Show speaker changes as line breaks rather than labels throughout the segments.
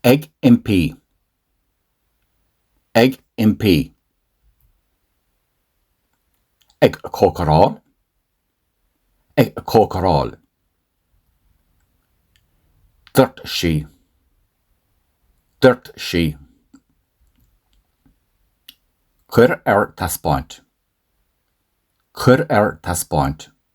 Ag impí. Ag impí. Ag cócaráil. Ag cócaráil. Dúirt sí. Dúirt sí. Cuir ar taispeáint. Cuir ar taispeáint.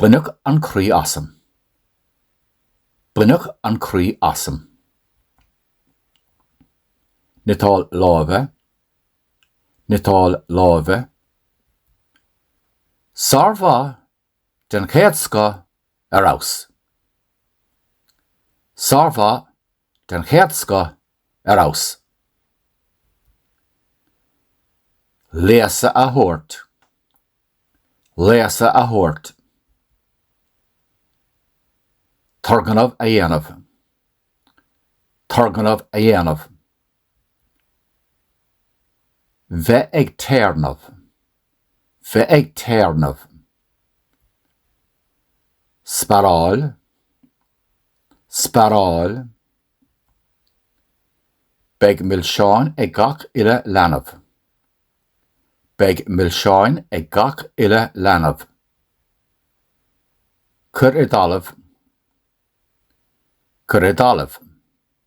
Baineadh an croí asam. Baineadh an croí asam. Cniotáil láimhe. Cniotáil láimhe. Sármhaith den chéad scoth ar fheabhas. Sármhaith den chéad scoth ar fheabhas. Léasadh a thabhairt. Léasadh a thabhairt. Turgnamh a dhéanamh. Turgnamh a dhéanamh. Bheith ag téarnamh. Bheith ag téarnamh. Sparáil. sparáil. Beidh milseáin ag gach uile leanbh. Beidh milseáin ag gach uile leanbh. Cuir i dtalamh. Cuir i dtalamh.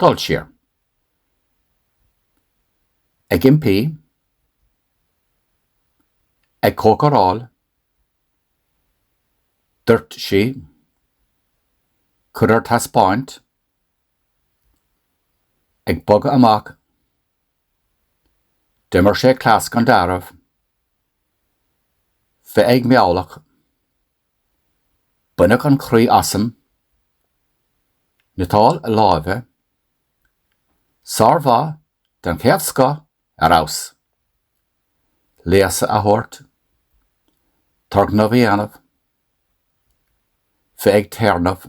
Dul siar. Ag impí. Ag cócaráil. Dúirt sí. Cuir ar taispeáint. Ag bogadh amach. D'imir sé cleas gan dealramh. Bheith ag meamhlach. Baineadh an croí asam. Cniotáil láimhe. Sármhaith den chéad scoth ar fheabhas. Léasadh a thabhairt. Turgnamh a dhéanamh. Bheith ag téarnamh.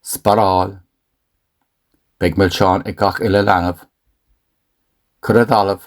Sparáil. Beidh milseáin ag gach uile leanbh. Cur i dtalamh.